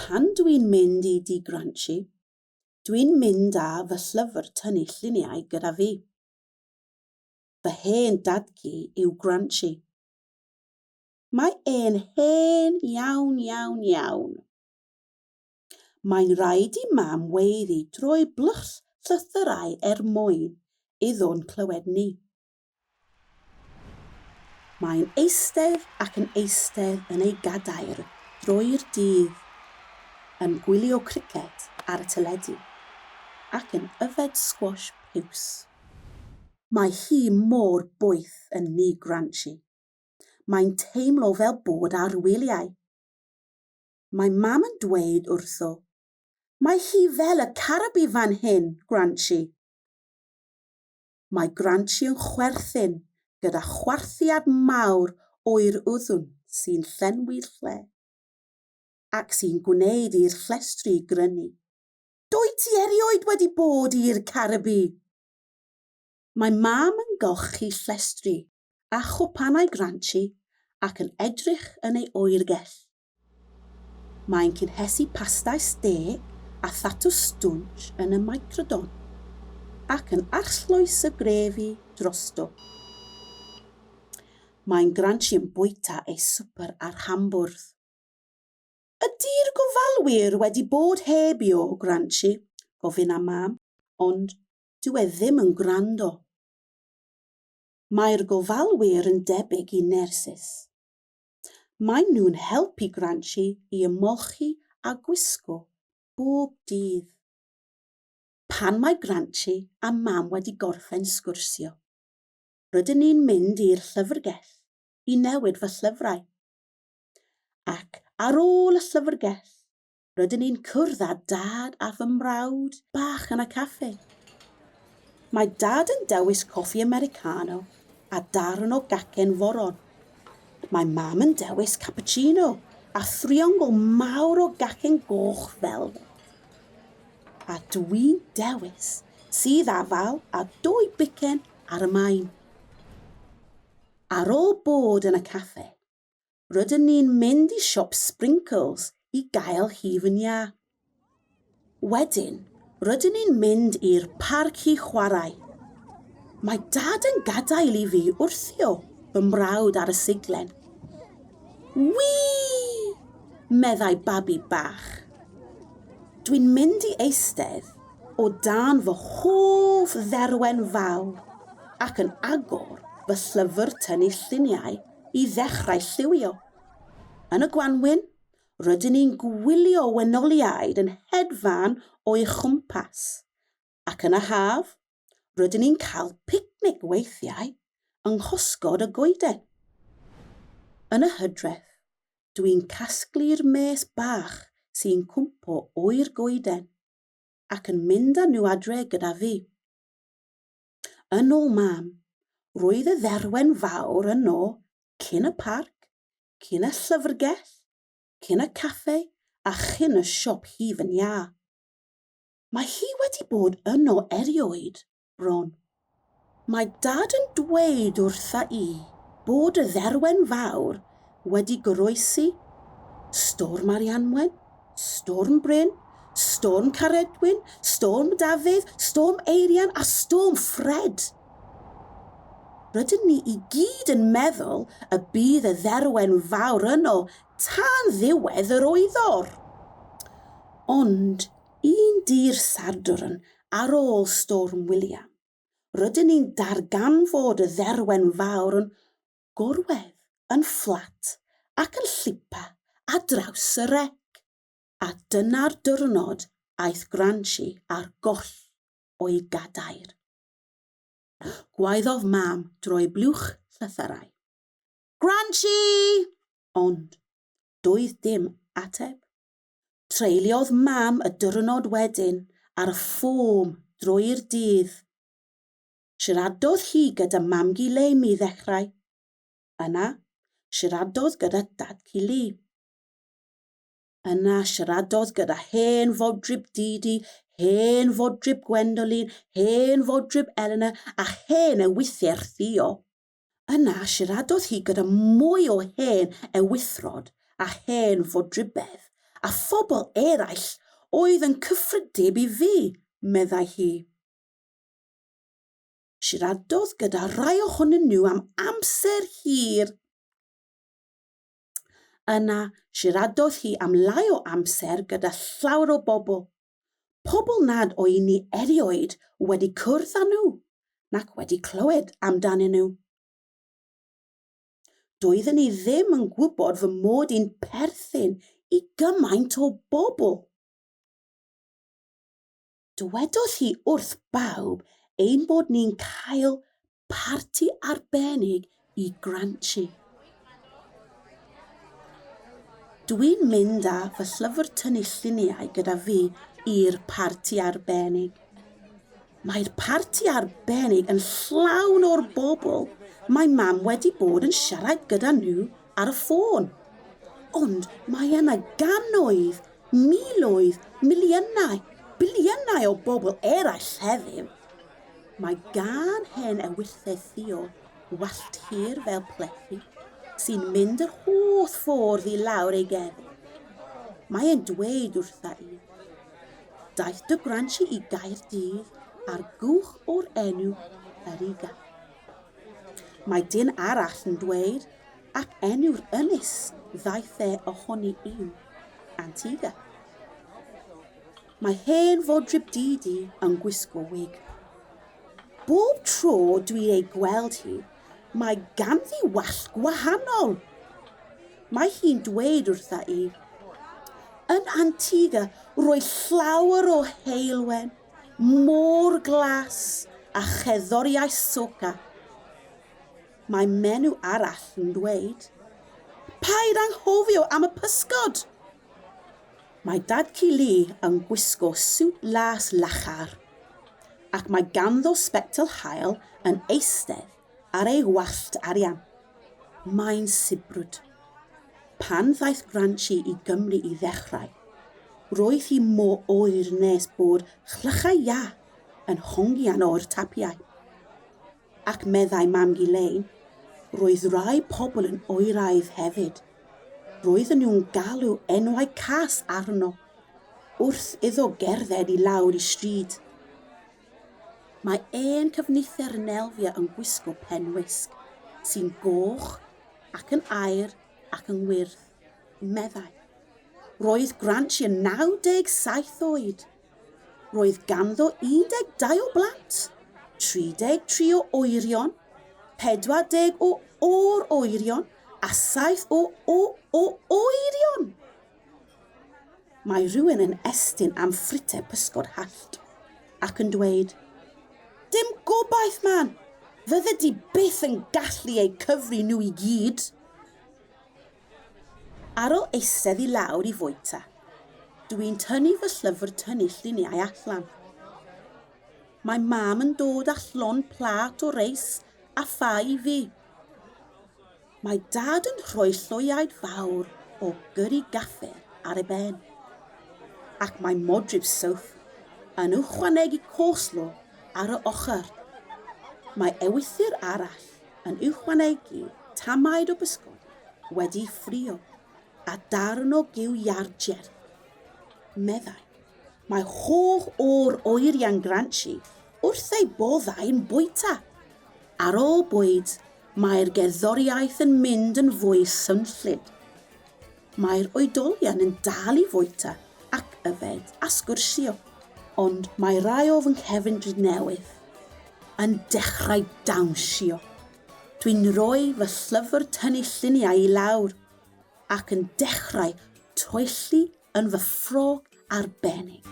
Pan dw i'n mynd i Dŷ Granshi, dw i'n mynd â fy llyfr tynnu lluniau gyda fi. Fy hen dad-cu yw Granshi. Mae e'n hen iawn, iawn, iawn. Mae'n rhaid i Mam weiddi drwy blwch llythyrau er mwyn iddo'n clywed ni. Mae'n eistedd ac yn eistedd yn ei gadair drwy'r dydd yn gwylio criced ar y teledu ac yn yfed sgwash piws. Mae hi mor boeth yn Nŷ Granshi. Mae'n teimlo fel bod ar wyliau. mae Mam yn dweud wrtho. Mae hi fel y carabi fan hyn, Granchi! Mae Granchi yn chwerthin gyda chwarthiad mawr oer uddwn sy'n llenwi'r lle, ac sy'n gwneud i'r llestri grynu. Dwyt ti erioed wedi bod i'r Caribi? Mae Mam yn golchi llestri a chwpanau Granchi ac yn edrych yn ei oergell. Mae'n cynhesu pastau stê a thatws stwnsh yn y Microdon, ac yn arllwys y grefi drosto. Mae'n granshi yn bwyta ei swper ar hambwrdd. Ydi'r gofalwyr wedi bod heb i o granshi? gofyn am Mam, ond dyw e ddim yn gwrando. Mae'r gofalwyr yn debyg i nyrsys. Maen nhw'n helpu Granchi i ymolchi a gwisgo bob dydd. Pan mae Granchi a Mam wedi gorffen sgwrsio, rydyn ni'n mynd i'r llyfrgell i newid fy llyfrau. Ac ar ôl y llyfrgell, rydyn ni'n cwrdd â dad a fy mrawd bach yn y caffi. Mae dad yn dewis coffi Americano a darn o gacen foron. Mae mam yn dewis cappuccino a thriongl mawr o gacen goch fel A dwi'n dewis sydd afal a dwy bicen ar y main. Ar ôl bod yn y caffe, Rydyn ni'n mynd i siop Sprinkles i gael hi fy nia. Wedyn, rydyn ni'n mynd i'r parc i chwarae. Mae dad yn gadael i fi wrthio fy mrawd ar y siglen. Wii! meddai babi bach. Dwi'n mynd i eistedd o dan fy hoff dderwen fawr ac yn agor fy llyfr tynnu lluniau i ddechrau lliwio. Yn y gwanwyn, rydyn ni'n gwylio wenoliaid yn hedfan o'i chwmpas, ac yn y haf, rydyn ni'n cael picnic weithiau yng nghosgod y goeden. Yn y hydref, dwi'n casglu'r mês bach sy'n cwmpo oer goeden ac yn mynd â nhw adre gyda fi. Yn ôl Mam, roedd y dderwen fawr yno cyn y parc, cyn y llyfrgell, cyn y caffe a chyn y siop hif yn iâ. Mae hi wedi bod yno erioed, bron. Mae Dad yn dweud wrtha i bod y dderwen fawr wedi goroesi, Storm Arianwen, Storm Bryn, Storm Caredwyn, Storm Dafydd, Storm Eirian a Storm Ffred. Rydyn ni i gyd yn meddwl y bydd y dderwen fawr yno tan ddiwedd yr oeddor. Ond un dy'r Sadwrn ar ôl Storm William, rydyn ni'n darganfod y dderwen fawr yn gorwedd yn fflat ac yn llipa ar draws y rec, a dyna'r diwrnod aeth Granshi ar goll o'i gadair. Gwaeddodd Mam drwy blwch llythyrau, Granshi! Ond doedd dim ateb. Treuliodd Mam y diwrnod wedyn ar y ffom drwy'r dydd. Siaradodd hi gyda mam-gu Leim i ddechrau. Yna, siaradodd gyda dad-cu Li. Yna, siaradodd gyda hen fodryb Didi, hen fodryb Gwendolyn, hen fodryb Elena a hen ewythr Theo. Yna, siaradodd hi gyda mwy o hen ewithrod a hen fodrybedd a phobl eraill oedd yn cyffredib i fi, meddai hi. Siaradodd gyda rhai ohonyn nhw am amser hir. Yna, siaradodd hi am lai o amser gyda llawer o bobl. Pobl nad o'i ni erioed wedi cwrdd â nhw nac wedi clywed amdanyn nhw. Doeddwn i ddim yn gwybod fy mod i'n perthyn i gymaint o bobl. Dywedodd hi wrth bawb ein bod ni'n cael parti arbennig i Granchi. Dwi'n mynd â fy llyfr tynnu lluniau gyda fi i'r parti arbennig. Mae'r parti arbennig yn llawn o'r bobl mae mam wedi bod yn siarad gyda nhw ar y ffôn. Ond mae yna gannoedd, miloedd, miliynau, biliynau o bobl eraill heddiw. Mae gan hen ewyllys Theo wallt hir fel plethu sy'n mynd yr holl ffordd i lawr ei gefn. Mae e'n dweud wrtha i, Daeth dy gwransi i Gaerdydd ar gwch o'r enw Eryga. Mae dyn arall yn dweud, ac enw'r ynys ddaeth e ohoni yw Antigua. Mae hen fodryb Didi yn gwisgo wig. Bob tro dwi'n ei gweld hi, mae ganddi wallt gwahanol. Mae hi'n dweud wrtha i, Yn Antigua roedd llawer o heulwen, Môr Glas a cherddoriaeth Soca. Mae menyw arall yn dweud, 'Paid anghofio am y pysgod! Mae Dad-cu Lee yn gwisgo siwt las lachar, ac mae ganddo sbectol haul yn eistedd Ar ei wallt arian, mae'n sibrwd. Pan ddaeth Granchi i Gymru i ddechrau, roedd hi mor oer nes bod chlychau iâ yn hongian o'r tapiau. Ac meddai Mam-gu Lein, roedd rhai pobl yn oeraidd hefyd. Roedden nhw'n galw enwau cas arno, wrth iddo gerdded i lawr y stryd. Mae ein cyfnither yn elfio yn gwisgo pen wisg sy'n goch ac yn aur ac yn wyrdd, meddai. Roedd Granchi yn 97 oed. Roedd ganddo 12 o blant, 33 o oerion, 40 o or-oerion a 7 o o-o-oerion! Mae rhywun yn estyn am ffrite pysgod hallt ac yn dweud, Dim gobaith, man! Fyddet ti byth yn gallu eu cyfri nhw i gyd! Ar ôl eistedd i lawr i fwyta, dw i'n tynnu fy llyfr tynnu lluniau allan. Mae mam yn dod â llond plat o reis a ffa i fi. Mae Dad yn rhoi lloiaid fawr o gyri gafr ar ei ben, ac mae modryb Soph yn ychwanegu coleslaw ar y ochr. Mae ewythr arall yn ychwanegu tamaid o bysgod wedi'i ffrio a darn o giw iâr jerth, meddai. Mae holl o'r oeriau'n granshi wrth eu boddau'n bwyta. Ar ôl bwyd, Mae'r gerddoriaeth yn mynd yn fwy swnllyd. Mae'r oedolion yn dal i fwyta ac yfed a sgwrsio, ond mae rai o fy nghefndir newydd yn dechrau dawnsio. Dwi'n rhoi fy llyfr tynnu lluniau i lawr ac yn dechrau toelli yn fy ffrog arbennig.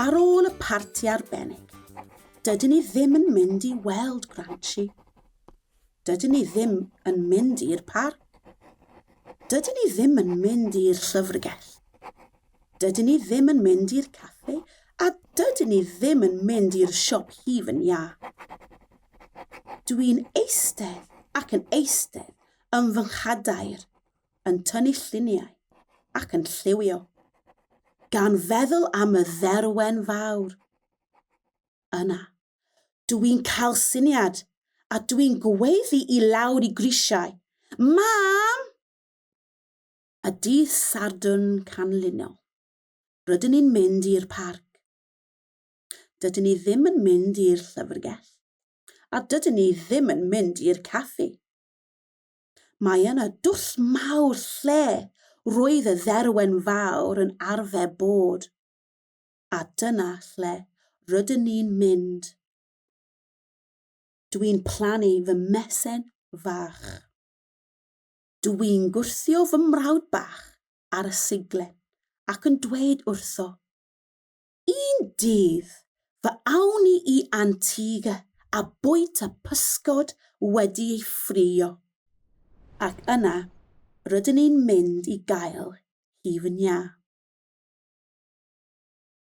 Ar ôl y parti arbennig, dydyn ni ddim yn mynd i weld Granchi. Dydyn ni ddim yn mynd i'r parc. Dydyn ni ddim yn mynd i'r llyfrgell. Dydyn ni ddim yn mynd i'r caffi a dydyn ni ddim yn mynd i'r siop hufen iâ. Dwi'n eistedd ac yn eistedd yn fy nghadair, yn tynnu lluniau ac yn lliwio, gan feddwl am y dderwen fawr. Yna, dwi'n cael syniad a dwi'n gweiddi i lawr i grisiau, Mam! a dydd Sadwrn canlynol, rydyn ni'n mynd i'r parc. Dydyn ni ddim yn mynd i'r llyfrgell, a dydyn ni ddim yn mynd i'r caffi. Mae yna dwll mawr lle roedd y dderwen fawr yn arfer bod, a dyna lle rydyn ni'n mynd. Dwi'n plannu fy mesen fach. Dw i'n gwthio fy mrawd bach ar y seiglen ac yn dweud wrtho, Un dydd, fe awn ni i Antigua a bwyta pysgod wedi ei ffrio. Ac yna, rydyn ni'n mynd i gael hi fy nha.